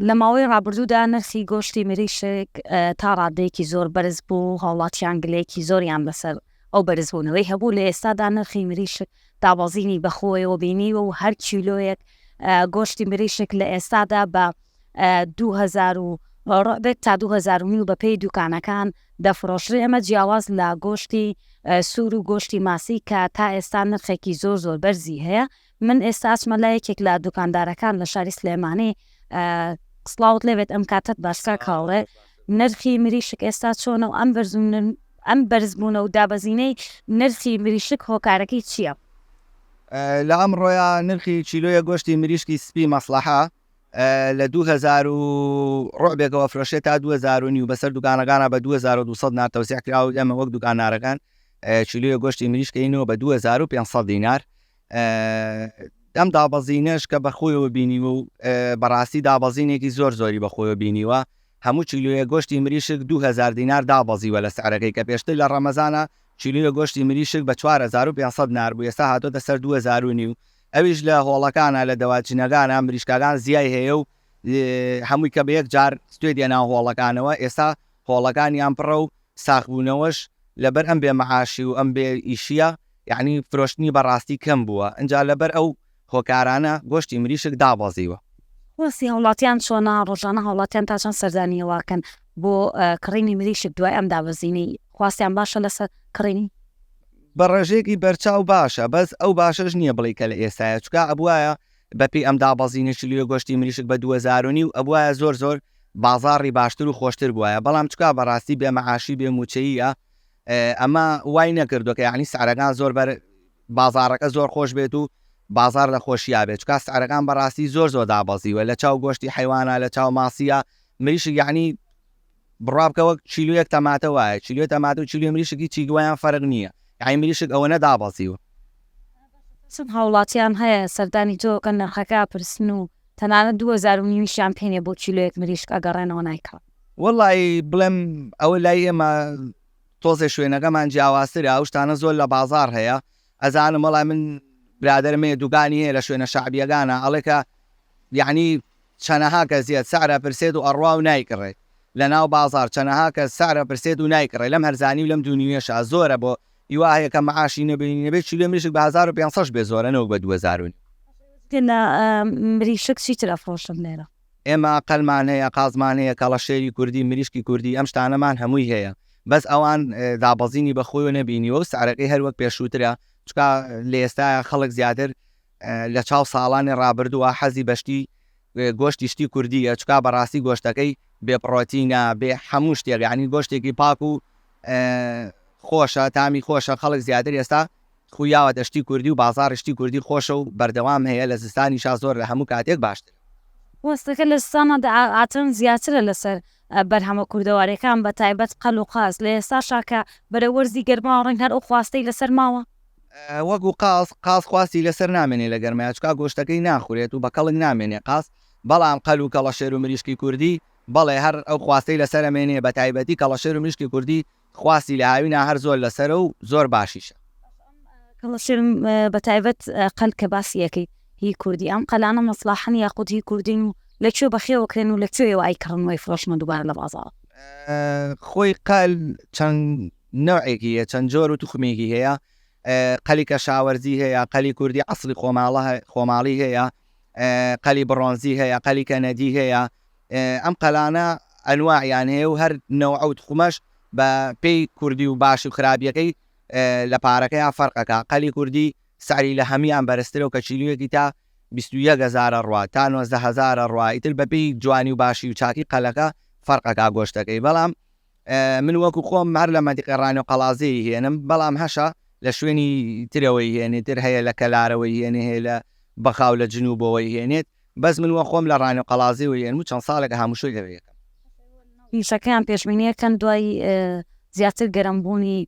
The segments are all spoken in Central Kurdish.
لە ماوەی ڕابردوودا نرخی گۆشتی مریشک تا ڕادەیەکی زۆر بەرز بوو هاوڵاتیان گلەیەکی زۆریان بەسەر ئەو بەرزبوونەوەی هەبوو لە ئێستادا نرخی مریشک دابەزینی بەخۆیەوە بینیوە و هەر کیلۆیەک گۆشتی مریشک لە ئێستادا بە 2000 ڕۆبێت تا 2000 و بەپی دوکانەکان دەفرۆشرێ ئەمە جیاواز لە گۆشتی سوور و گۆشتی ماسی کە تا ئێستا نرخێکی زۆر زۆر بەرزی هەیە من ئێستا ئەچمە لای یەکێک لە دوکاندارەکان لە شاری سلێمانی سڵاوت لێبێت ئەم کاتت باشکە کاڵێ نرخی مریشک ئێستا چۆنە و ئەم بەرزون ئەم بەرزبوونە و دابەزینەی نرخی مریشک هۆکارەکەی چییە؟ لە ئەم ڕۆیا نرخی چیلۆیە گۆشتی مریشکی سپی مەسلحە لە 2000 و ڕۆبێکەوە فرۆشێت تا 2000 نیو بەسەر دوکانەکانە بە 2200 نار تەوسیع کراوە ئێمە وەک دوکانارەکان چیلویە گۆشتی مریشکەینەوە بە 2500 دینار ئەم دابەزینەش کە بەخۆیەوە بینیوە و بەڕاستی دابەزینێکی زۆر زۆری بەخۆیەوە بینیوە هەموو چیلویە گۆشتی مریشک 2000 دینار دابەزیوە لە سعرەکەی کە پێشتر لە ڕەمەزانە چیلویە گۆشتی مریشک بە 4500 نار بوو ئێستا هاتۆتە سەر 2000 و نیو ئەویش لە هۆڵەکانە لە دەواجنەکانە مریشکەکان زیای هەیە و هەمووی کە بە یەک جار ستێ دێنا هۆڵەکانەوە ئێستا هۆڵەکانیان پڕە و ساغبوونەوەش لەبەر ئەم بێ مەعاشی و ئەم بێ ئیشییە یەعنی فرۆشتنی بەڕاستی کەم بووە ئینجا لەبەر ئەو هۆکارانە گۆشتی مریشک دابەزیوە. خواستی هاوڵاتیان چۆنە؟ ڕۆژانە هاوڵاتیان تا چەند سەردانی هەواکەن بۆ کڕینی مریشک دوای ئەم دابەزینەی؟ خواستیان باشە لەسەر کڕینی؟ بە ڕێژەیەکی بەرچاو باشە بەس ئەو باشەش نییە بڵێی کە لە ئێستایە چونکا ئەبوایە بەپێی ئەم دابەزینەی کیلۆی گۆشتی مریشک بە دوو هەزار و نیو ئەبوایە زۆر زۆر بازاڕی باشتر و خۆشتر بوایە بەڵام چکا بەڕاستی بێ مەعاشی بێ مووچەییە ئەمە وای نەکردوە کە یانی سعرەکان زۆر بەر بازاڕەکە زۆر خۆش بێت و بازار لە خۆشییا بێت چکا سعرەکان بەڕاستی زۆر زۆر دابەزیوە لە چاو گۆشتی حیوانە لە چاو ماسیە مریشی یعنی بڕابکەوە چیلوەک تەماتە وایە چیلوێ تەمات و چیلوێ مریشکی چی دوایان فەرق نییە یعنی مریشک ئەوە نەدابەزیوە چەند هاوڵاتیان هەیە سەردانی تۆکەن نرخەکە پرسن و تەنانەت دوو هەزار و نیویشیان پێنیە بۆ کیلۆیەک مریشک ئەگەڕێنەوە نایکڕن. وەڵڵا ی بڵێم ئەوە لای ئێمە تۆزێ شوێنەکەمان جیاوازترە ئەو شتانە زۆر لە بازاڕ هەیە ئەزانم وەڵا من برادەرم هەیە دوگانی هەیە لە شوێنە شەعبیەگانە ئەڵێ کە یعنی چەنەها کە زیاد سعر ئەپرسێت و ئەڕوا و نایکڕێت لە ناو بازاڕ چەنەها کە سعر ئەپرسێت و نایکڕێ لەم هەرزانی و لەم دوونیوێشا زۆرە بۆ هیوا هەیە کە معاشی نەبینی نەبێ چیلۆ مریشک بە هەزار و پێنج سەش بێ زۆرە نەوەک بە دوو هەزار و نیو. تیلا مریشک چیتر ئەفرۆشن لێرە. ئێمە قەلمان هەیە قازمان هەیە کەڵەشێری کوردی مریشکی کوردی ئەم شتانەمان هەمووی هەیە بەس ئەوان دابەزینی بەخۆیەوە نەبینیوە و سعرەکەی هەر وەک پێشووترە چکا لە ئێستاە خەڵک زیاتر لە چاو ساڵانی ڕابردووە حەزی بەشتی گۆشتی شتی کوردی ئەچکا بەڕاستی گۆشتەکەی بێ پڕۆتینە بێ هەموو شتێک ینی گۆشتێکی پاک و خۆشە تامی خۆشە خەڵک زیاتر ئێستا خوی یاوەتە شتی کوردی و بازاڕی شتی کوردی خۆشە و بەردەوام هەیە لە زستانیشا زۆر لە هەموو کاتێک باشترە. ڕاستەکە لە زستانادا ئاعاترن زیاترە لەسەر بەرهەمە کوردەواریەکان بە تایبەت قەل و قاز لە ئێستاشا کە بەرەو وەرزی گەرماوە ڕەنگ هەر ئەو خواستەی لەسەر ماوە. وەکو قاز قاز خواستی لەسەر نامێنێ لە گەرمایا چکا گۆشتەکەی ناخورێت و بە کەڵک نامێنێ قاز بەڵام قەل و کەڵەشێر و مریشکی کوردی بەڵێ هەر ئەو خواستەی لەسەرە مێنێ بەتایبەتی کەڵەشێر و میشکی کوردی خواستی لە هاوینا هەر زۆر لەسەرە و زۆر باشیشە. کەڵەشێر بەتایبەت قەل کە باسی ئەکەی هی کوردی ئەم قەلانە مەسڵاحەن یاخود هی کوردین و لە کوێ بەخێوە کرێن و لە کوێیەوە ئەیکڕن و ئەیفرۆشنە دووبارە لە بازاڕ؟ خۆی قەل چەند نەوعێکی هەیە چەند جۆر و توخمێکی هەیە قەلی کەشاوەرزی هەیە قەلی کوردی عەسڵی خۆماڵە خۆماڵی هەیە قەلی بڕۆنزی هەیە قەلی کەنەدی هەیە ئەم قەلانە ئەنواعیان هەیە و هەر نەوعە و تخمەش بە پێی کوردی و باشی و خراپیەکەی لە پارەکەیان فەرق ئەکا قەلی کوردی سعری لە هەمیان بەرزترە و کە کیلویەکی تا بیست و یەک هەزار ئەڕوا تا نۆزدە هەزار ئەڕوا ئیتر بە پێی جوانی و باشی و چاکی قەلەکە فەرق ئەکا گۆشتەکەی بەڵام من وەکو خۆم هەر لە مەنتیقی ڕانێ و قەڵازێ ی هێنم بەڵام هەشە لە شوێنی ترەوەی هێنێ تر هەیە لە کەلارەوەی هێنێ هەیە لە بەخاو لە جنوبەوەی هێنێت بەس من وە خۆم لە ڕانیە قەڵازی و ێرمو چەند ساڵێکە هاموشۆی لەوێ یەکەم. موشەکەیان پێشبینیە کەن دوای زیاتر گەرم بوونی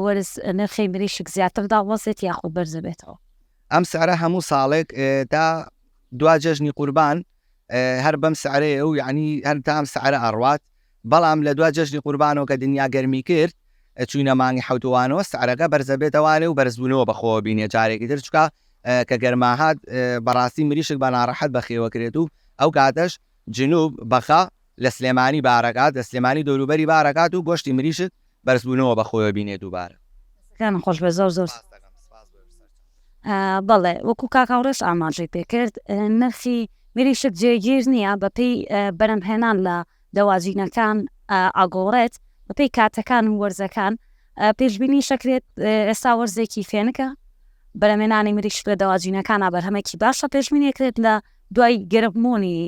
وەرز نرخی مریشک زیاتر داڵەزێت یاخود بەرزە بێتەوە. ئەم سعرە هەموو ساڵێک تا دوا جەژنی قوربان هەر بەم سعرەیە و یعنی هەر تا ئەم سعرە ئەڕوات بەڵام لە دوا جەژنی قوربانەوە کە دنیا گەرمی کرد چووینە مانگی حەوت وانەوە سعرەکە بەرزەبێتەوانێ و بەرزبوونەوە بەخۆوە بینێ جارێکی تر چکا کە گەرما هات بەڕاستی مریشک بە ناڕەحەت بەخێوە کرێت و ئەو کاتەش جنوب بەخە لە سلێمانی بارەکات لە سلێمانی دەوروبەری بارەکات و گۆشتی مریشک بەرز بونەوە بە خۆیەوە بینێ دووبارە. دەستەکانت خۆش بێت زۆر زۆر سوپاس. بەڵێ وەکو کاک هاوڕێش ئاماژەی پێکرد نرخی مریشک جێگیر نییە بەپێی بەرهەمهێنان لە دەواجینەکان ئەگۆڕێت بەپێی کاتەکان و وەرزەکان پێشبینیش ئەکرێت ئێستا وەرزێکی فێنکە بەرهەمهێنانی مریشک لە دەواجینەکانە بەرهەمێکی باشە پێشبینی ئەکرێت لە دوای گەرمبوونی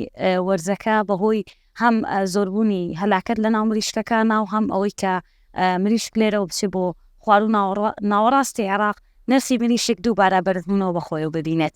وەرزەکە بەهۆی هەم زۆربوونی هەلاکەت لە ناو مریشکەکانا و هەم ئەوەی کە مریشک لێرەوە بچێ بۆ خواروو ناوەڕاستی عێراق، نرخی مریشک دووبارە بەرزبوونەوە بە خۆیەوە ببینێت.